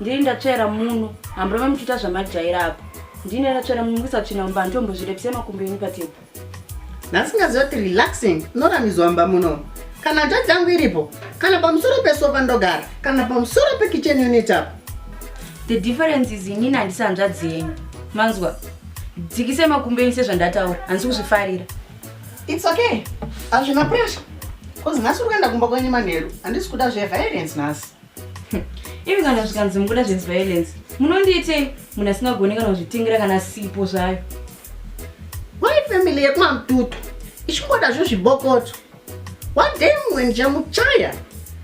ndiri ndatsvaira muno hamburame muchiita zvamajaira apo ndine ndatsvaira muno mukisatsvina mumba handitombozvirepise makumbo enyu patebho ndasingaziva kuti relaxing unoramizwa mumba muno kana nja dzangu iripo kana pamusoro pesofa ndogara kana pamusoro pekichen unit apo the difference is inini handisi hanzvadzi yenyu manzwa dzikise makumbo enyu sezvandataura handisi kuzvifarira its okay hazvina pressure bcause nhasi uri kuenda kumba kwenyu manheru handisi kuda zveviolence nhasi imi kana zvikanzi mukuda zveviolence munondiitei munhu asingagone kana kuzvitingira kana sipo zvayo why family yekumamututu ichingoda zvo zvibokoto one day mumwe ndichamuchaya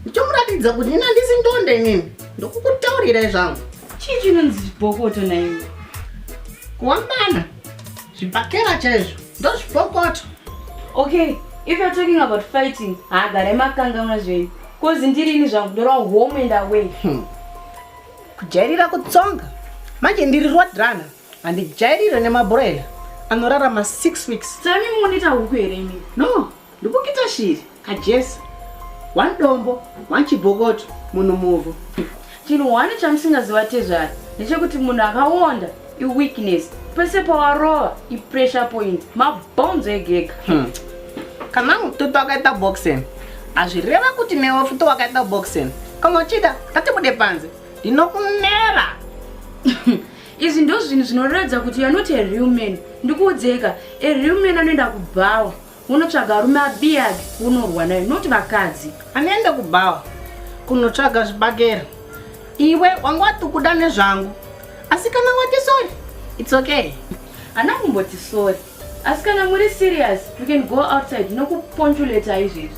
ndichomuratidza kuti nina ndisi ndonde inini ndokukutaurirai zvangu chii chinonzi zvibokoto naiwe kuwambana zvibhakera chaizvo ndozvibokoto okay if you're talking about fighting haagare makangauna zvenyu Kozi ndirini zvangu ndora home and away. Hmm. Kujairira kutsonga. Manje ndiri road runner. Handijairire nemabrela. Anorarama 6 weeks. Tsani munita huku here imi? No, ndikukita shiri. Kajesa. One dombo, one chibokoto, munhu muvhu. Chinhu one chamusingaziva tezvara ndechekuti munhu akawonda iweakness pese pawarova ipressure point mabhonzo egega hmm. kana mututu akaita boxing hazvireva kuti newe futi wakaita boxing kana uchida ngatibude panze ndinokunera izvi ndo zvinhu zvinoratidza kuti you're not a real man ndikuudzeka a real man anoenda kubhawa Unotsvaga arume abiyage unorwa nayo not vakadzi. Anoenda kubhawa kunotsvaga zvibagera. Iwe wanga wati kuda nezvangu. Asi kana wati sorry, it's okay. Ana kumboti sorry. Asi kana muri serious, you can go outside nokuponchuleta izvezvi.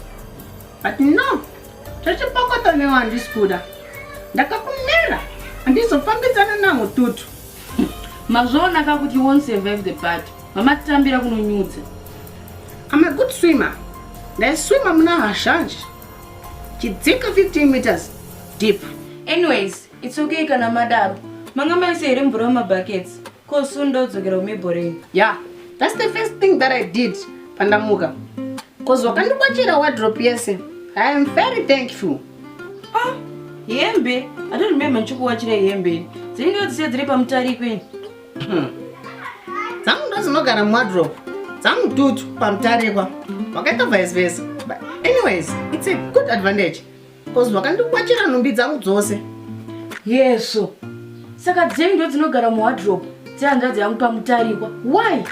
But no, zvechipokota newe handisi kuda. Ndakakumera handizofambidzana namututu. Mazviona ka kuti you won't survive the party. Mamatitambira kunonyudza. I'm a good swimmer. Ndaiswima muna hazhanji. Chidzika 15 meters deep. Anyways, it's okay kana madaro. Manga maise here mvura mumabuckets. Ko soon ndodzokera kumibhoreni. Yeah, that's the first thing that I did pandamuka. Cause wakandikwachira wardrobe yese. I am very thankful. Ah, hembe. I don't remember ndichikuwachira hembe. Dzinenge dzisiya dziri pamutariko ini. Hmm. Dzangu ndozinogara muwardrobe. Dzangu dutu pamutarikwa. Wakaita vice versa. But anyways, it's a good advantage. Because wakandikwachira nhumbi dzangu dzose. Yeso. Saka dzenyu ndodzinogara muwardrobe. Dzehanzvadzi yangu pamutarikwa. Why?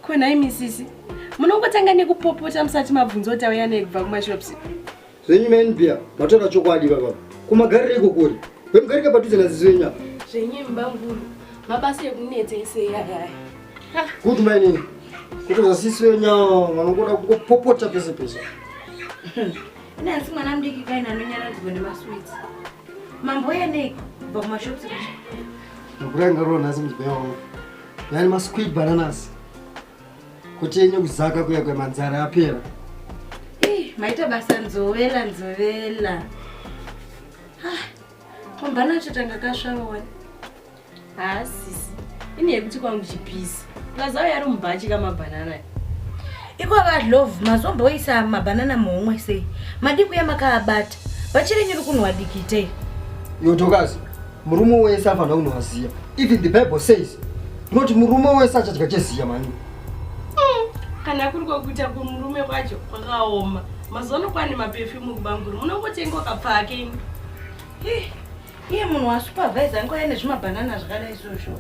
konhai misisi munongotanga nekupopota musati mabvunza kuti auya nei kubva kumashops zvenyu manbia matoka chokwadi vava kumagarira iko kuri vemugarika padhuze nazizi venyu apa zvenyu mbanguru mabasa ekunetsa ese yayaya good mainini kuti zvasisi venya vanongoda kungopopota pese pese nansi mwana mudiki kaina anonyaradzwa nemaswits mambo yanei kubva kumashops Ndokuranga roho nhasi muzibaya wangu. Yani ma squid bananas. Kuti yenye kuzaka kuya kwa manzara apera. Eh, maita basa nzovela nzovela. Ah, kombana acho tanga kasvava wani. Ah, sisi. Ini yekuti kwangu chipisi. Plus ayo yari mubhachi kama banana. Iko vadlove mazomboisa mabanana muhomwe sei? Madikuya makaabata. Vachirenyi rukunwa dikitei. Yotokazi. Murume wese afanira kunwa ziya. Even the Bible says not murume wese achadya cheziya mani. Hmm, kana kuri kwakuita kumurume kwacho kwakaoma. Mazuva ano kwane maperfume kubanguru munongotenga ukapfake imi. Iye munhu wasupervisor angu aine zvimabhanana zvakadai izvozvo.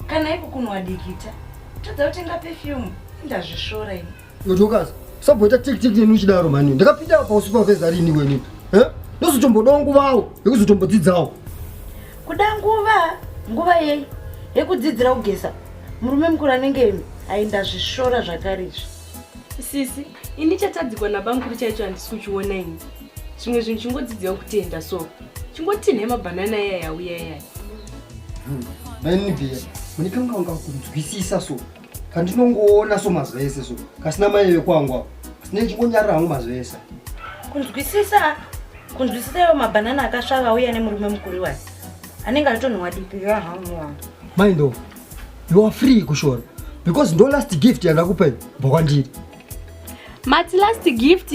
Kana iko kunwa dikita. Tadza kutenga perfume. Ndazvisvora imi. Yotokaza. Sabhoita tik tik nenu chidaro mani. Ndakapinda pa supervisor rini weni. Eh? Ndozotombodawo nguvawo yekuzotombodzidzawo. Kuda nguva, nguva yei? Yekudzidzira kugeza. Murume mukuru anenge aenda zvishora zvakare izvi. Sisi, ini chatadzikwa nabamukuru chaicho handisi kuchiona ini. Zvimwe zvinhu chingodzidziwa kutenda so. Chingotinhe mabhanana iya yauya iya. Mani biya, munikanga wanga kunzwisisa so. kandinongoona so mazuva ese so kasina mai vekwangu avo sine ndichingonyarira hangu mazuva ese kunzwisisa kunzwisisa iwo mabhanana akasvava uye ane murume mukuru iwayo anenge atonhuwa dipi yahamuwa mai ndo you are free kushora because ndo last gift yandakupai bva kwandiri mati last gift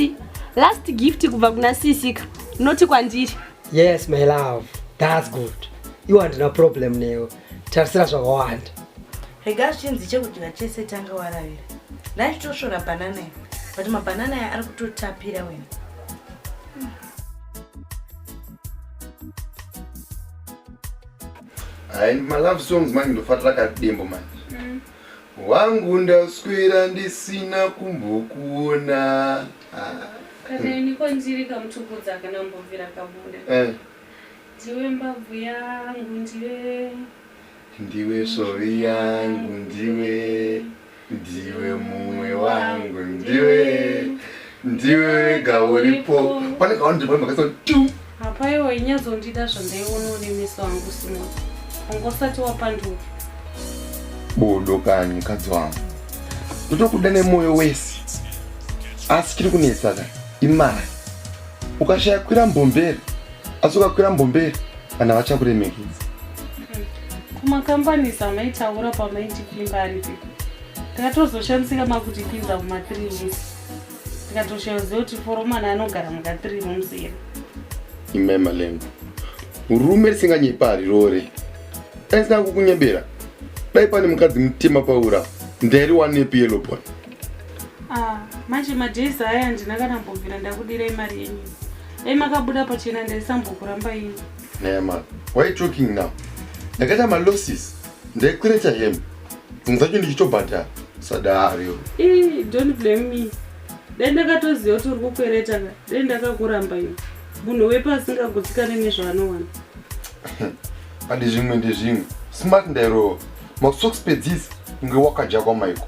last gift kubva kuna sisika noti kwandiri yes my love thats good iwo handina problem newe tarisira zvakawanda rega zvichinzi chekudya chese tanga waravira nai titosvora banana iyo but mabanana aya ari kutotapira wena hai malove songs manje ndofarira kadembo manje mm. wangu ndaswera ndisina kumbokuona ah. kana iniko ndiri kamutukudza kana mbovira kabuda eh. ndiwe mbabvu yangu ndiwe Ndiwe svovi yangu ndiwe ndiwe mumwe wangu ndiwe ndiwe wega uripo pane kawandipa makasa tu apa iwe inyazondida zvandaiona une meso angu simwa wanga usati wapanduka bodo kani mukadzi wangu ndotokuda nemwoyo wese asi chiri kunetsaka imari ukashaya kwira mbomberi asi ukakwira mbombe kana vachakuremekedza kumakambani samaitaura pamaiti pimba aripi takatozoshandisika makuti pinza kuma three weeks tikatoshayoziva kuti foromana anogara muka three rooms here imema lengo rume risinganyepa harirore dai sina kukunyebera dai pane mukadzi mutema paura ndairi wanepi yelobon ah, manje madays aya ndina kana mbobvira ndakudirei mari yenyu Dai makabuda pachena ndaisambokuramba ini. Nema. Why you talking now? Ndakaita ma losses. Ndaikureta him. Dzimwe dzacho ndichitobhadhara. Sadari. Eh, don't blame me. Dai ndakatoziva kuti uri kukwereta ka. Dai ndakakuramba ini. Munhu wepa asingagutsikane nezvaanowana. Andi zvimwe ndezvimwe. Smart ndairova. Masocks pedzisi. Unge wakajakwa maiko.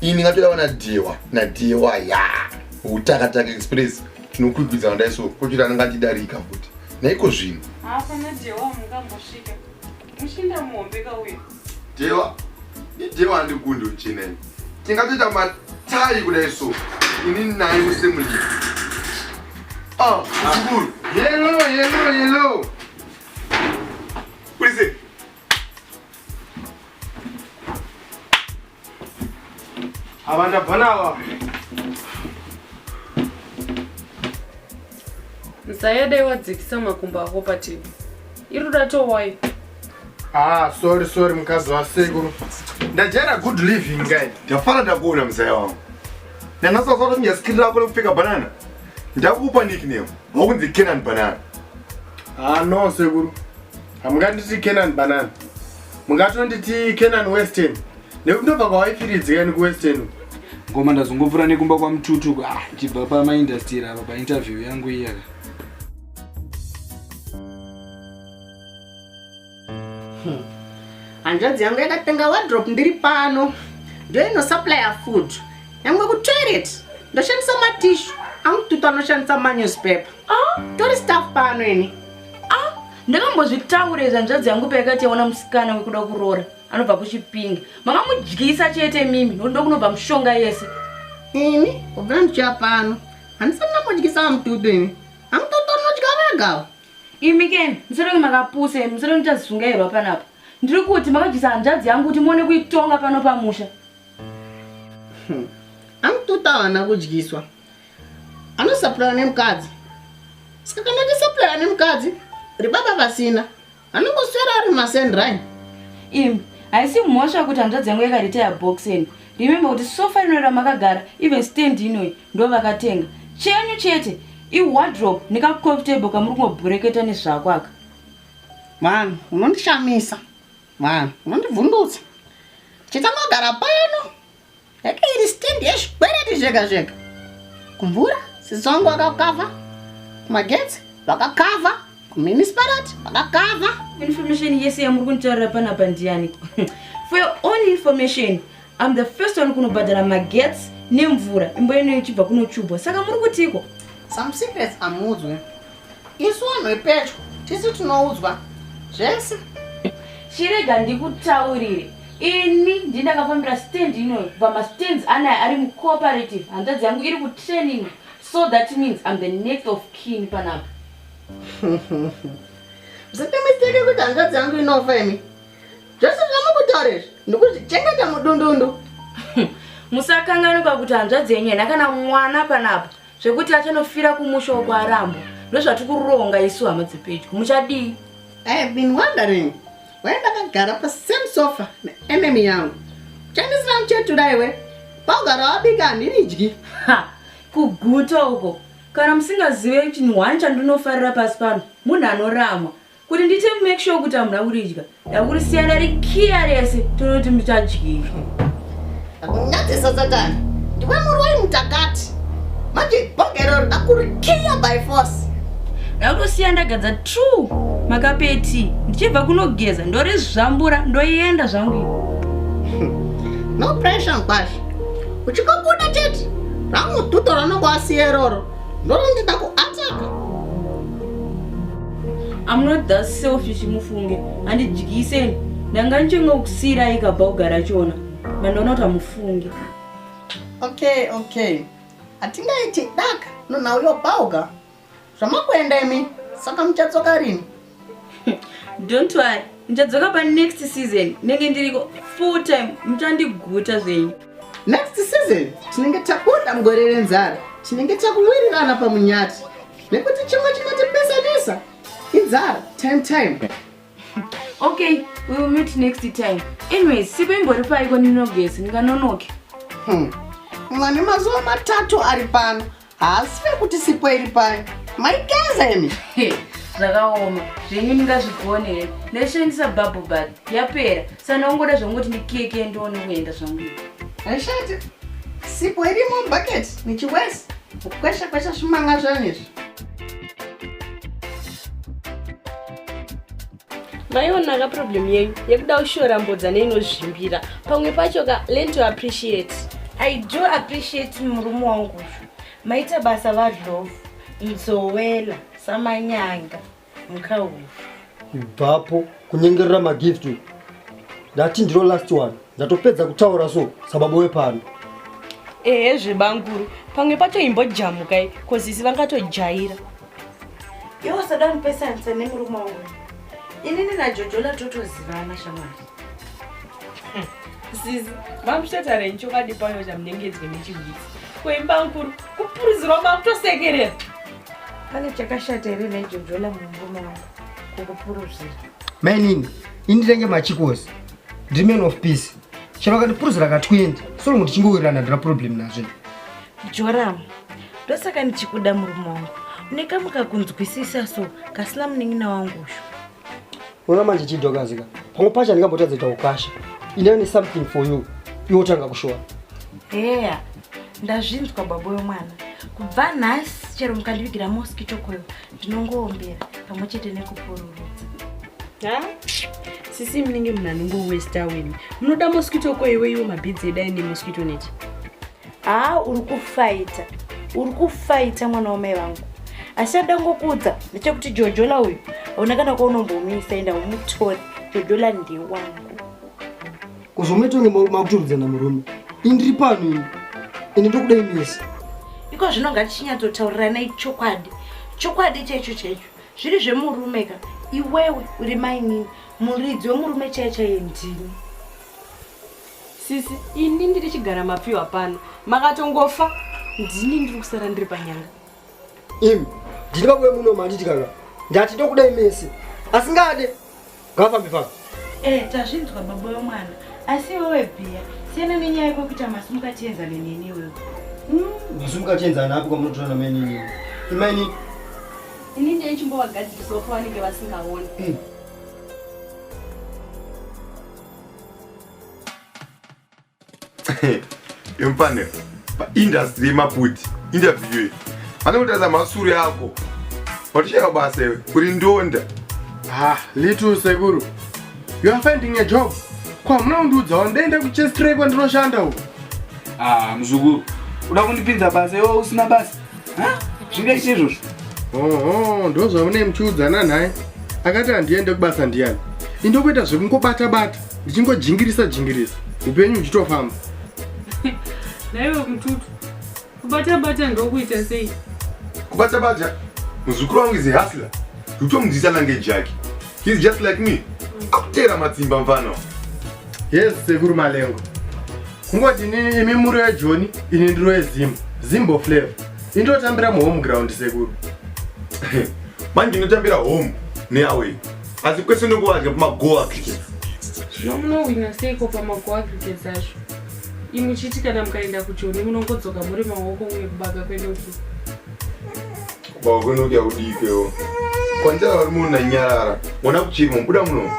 ini ngatodawa nadhewa nadhewa ya utakataka express tinokwikwidza vandai so kochiti anenge achidarika futi naiko zvino hapana dhewa mungambosvika muchinda muhombe kauya dhewa idhewa andikundi uchina ini tingatoita matai kudai so ini naye musemulii ah zukuru yelo yelo yelo Ava ndabva nawa. Mzaya dai wadzikisa makumbo ako pativi. Iri dato wai. Ah, sorry sorry mkazi wa sekuru. Ndajera good living guy. Ndafara ndakuona mzaya wangu. Nana sasa kuti nyasikira lako lekupfeka banana. Ndakupa nickname. Wakunzi Kenan banana. Ah, no sekuru. hamunganditi kenan banana mungatonditi kenan western nekuti ndobva kwawaifiridzika ini kuwestern uku ngoma ndazongopfura nekumba kwamututu ah, chibva pamaindastiri apa painterview yangu iyaka hmm. hanzvadzi yangu yakatenga wadrop ndiri pano ndoinosuplya food yangwe kutoilet ndoshandisa matishu amututu anoshandisa manewspaper ah. tori staff pano ini ah ndakambozvitaura izvi hanzvadzi yangu payakati yaona musikana wekuda kuroora anobva kuchipinga makamudyisa chete mimi nokuti ndokunobva mushonga yese ini kubva ndichiya pano handisati ndamudyisa vamututu imi amututu anodya vegava imi keni musoroki makapusa imi musoroki ndichazizungairwa panapa ndiri kuti makadyisa hanzvadzi yangu kuti muone kuitonga pano pamusha hmm. amututu avana kudyiswa anosapurana nemukadzi saka kana tisapurana nemukadzi ribaba vasina anongoswera ari masendrin im haisi mhosva kuti hanzvadzi yangu yakaritaya boxen remembe kuti sofa rinoira makagara even stand inoi ndo vakatenga chenyu chete iwadrop nekacoftable kamuri kungobhureketa nezvako aka vanhu unondishamisa vanhu unondibvundutsa chitangagara pano yake iri stand yezvikwereti zvega zvega kumvura sizongo akakava kumagetsi vakakava kumunicipalit vakakava information yese yamuri kunditaurira panapa ndiyani for your own information am the first one kunobhadhara magetsi nemvura imbo ino ichibva kunochubwa saka muri kutiko some secrets amudzwe isu vanhu vepedyo tisu tinoudzwa zvese chirega ndikutaurire ini ndi ndakafambira stand inoyo kubva mastands anaya ari mucooperative hanzvadzi yangu iri kutraining so that means im the next of kin panapa msatemisteke kuti hanzvadzi yangu inofa imi zvese zvamakutaura izvi ndikuzvichengeta mudundundu musakangani pakuti hanzvadzi yenyu yena kana mwana panapa zvekuti achanofira kumusha uko arambo ndozvatiri kuronga isu hama dzepedyo muchadii i have been wondering why ndakagara pasame sofa neenemy yangu uchandisina muchetura iwe paugara wabika handiridyi kuguta uko kana musingazive chinhu hwani chandinofarira pasi pano munhu anoramwa Kuti ndite make sure kuti hamuna kuridya. Ndakuri siyana rikiya rese tonoti muchadyira. Akunyadzisa Satani. Ndiwe muroi mutakati. Manje bogero ndakurikiya by force. Ndakutosiya ndagadza true makapeti ndichibva kunogeza ndorizvambura ndoenda zvangu. No pressure mkwasha. Uchikokuda chete. Rangu tuto ranongo asiye roro. ndonenge ndakuataka I'm not that selfish mufunge handidyiseni ndanga ndichenge kusiira ikabva kugara chona mandoona kuti hamufunge okay okay hatingaiti daka nonhauyo bauga zvamakuenda imi saka muchatsoka rini don't worry ndichadzoka pa next season nenge ndiriko full time muchandiguta zvenyu next season tinenge tabuda mugore renzara tinenge takuwirirana pamunyati nekuti chimwe chinotipesanisa inzara time time okay we will meet next time anyways sipo imbori paiko ndinogezi ndinganonoke hmm. mwane mazuva matatu ari pano haasi vekuti sipo iri payo maigeza imi zvakaoma zvenyu ndingazvigone here ndaishandisa bubble bad yapera sandakungoda zvangoti ndikeke ndione kuenda zvangu aishati sipo irimo bucket nichiwesi kukwesha kwesha zvimanga zvanizvi maionaka problem yenyu yekuda kushora mbodza neinozvimbira pamwe pacho ka learn to appreciate i do appreciate murume wangu uyu maita basa vadlovu mzowela samanyanga mukauyu ibvapo kunyengerera magift ndati ndiro last one ndatopedza kutaura so sababa wepano ehe zvebanguru pamwe pacho imbojamukai kozisi vangatojaira iwe usada kundipesanisa nemurume wangu inini najojola totozivana shamwari zizi mamuchatarenyi chokwadi payo chamunengedzwe nechihwitsi kuimba nkuru kupuruzirwa makutosekerera pane chakashata here naijojola mumurume wangu kukupuruzira mainini ini tenge machikozi ndiri man of peace chero akandipuruzira ka 20 so longo tichingowirirana ndina problem nazvo Joram, ndosaka ndichikuda murume wangu. Une kamwe kakunzwisisa so kasina munin'ina wangu uyu. Unoona manje chidhokazika. Pamwe pacho ndingambotadza kuita ukasha. Ine ne something for you. Iwe utanga kushowa. Heya, ndazvinzwa babo yomwana. Kubva nhasi chero mukandivigira mosquito coil ndinongoombera pamwe chete nekupururudza. Ha? Sisi munenge munhu anongowesta wena. Munoda mosquito coil iwe iwo mabhidzi edai nemosquito net. haa uri kufaita uri kufaita mwana wamai vangu asi chandangokuudza ndechekuti jojola uyu hauna kana kwaunombomuisa enda umutore jojola ndewangu kuzomuita unge makuturudzana murume indiri pano ini ini ndokudai mese iko zvino ngatichinyatsotauriranai chokwadi chokwadi chaicho chaicho zviri zvemurume ka iwewe uri mainini muridzi wemurume chaiye chaiye ndini Sisi, ini ndiri chigara mapfiwa pano. Makatongofa, ndini ndiri kusara ndiri panyanga. Im, ndiri babuwe muno manditi kaka. Ndati ndokudai mese. Asingade. Ngafambe pano. Eh, tazvinzwa baba wemwana. Asi wewe bhiya, siyana nenyaya yako kuita masumuka tienza nenini wewe. Mm. Masumuka tienza napo kwamunotora na menini. Imani. Ini ndiye chimbowagadzirisa uko vanenge vasingaoni. Mm. yomfanira paindastry yemaputi interview iyi vanokutarisa masuri ako watoshaya basa iwe uri ndonda ah little sekuru you are finding a job ko hamuna kundiudzawo ndaenda kuchestray kwandinoshanda uko ah muzukuru uda kundipinza basa iwe usina basa zvinge chizvozvo oho ndo zvamune muchiudzana nhai akati handiende kubasa ndiyani indokuita zvekungobata bata ndichingojingirisa jingirisa upenyu uchitofamba naiwe mututu kubata bata ndokuita sei kubata bata muzukuru wangu is a hustler utomudzisa nange jaki he's just like me akuteera matsimba mfana yes sekuru malengo kungoti inini imi muri wejoni ini ndiri wezim zimbo flavor indotambira muhome ground sekuru manje ndinotambira home neaway asi kwese ndongowadya pamagoa cricket zvino munowina seiko pamagoa cricket acho imi chiti kana mukaenda kujoni munongodzoka muri maoko uye kubaka kwenoki Bawagwena kuti yaudikewo. Kwanjara vari munhu nanyarara. Mwana kuchirimo buda muno.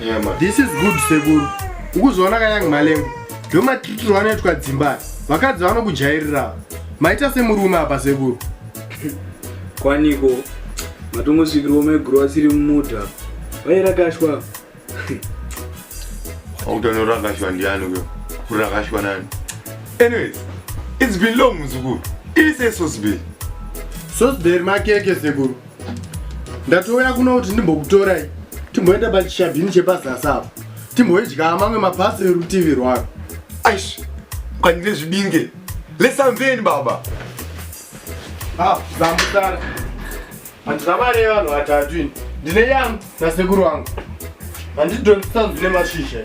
Yeah man. This is good sekuru. Ukuzoona kanyang malengo. Ndo matiriro vanoitwa dzimba. Vakadzi vanokujairira. Maita semurume apa sekuru. Kwaniko matongosvikirwa mai guru asiri mumota. Vaira kashwa. Autanurangashwa ndiani uyo? Kurangashwa nani? Anyways, it's been long muzukuru. Ise Sosbel. Sosbel makeke sekuru. Ndatouya kuno kuti ndimbokutorai. Timboenda pachishabhini chepazasi apo. Timboidya mamwe mapasi erutivi rwako. Aish, kwanire zvibinge. Let's unveil baba. Ah, zambutara. Handina mari yevanhu vatatu ini. Ndine yangu nasekuru wangu. Handidhonzisa zvine mashizha.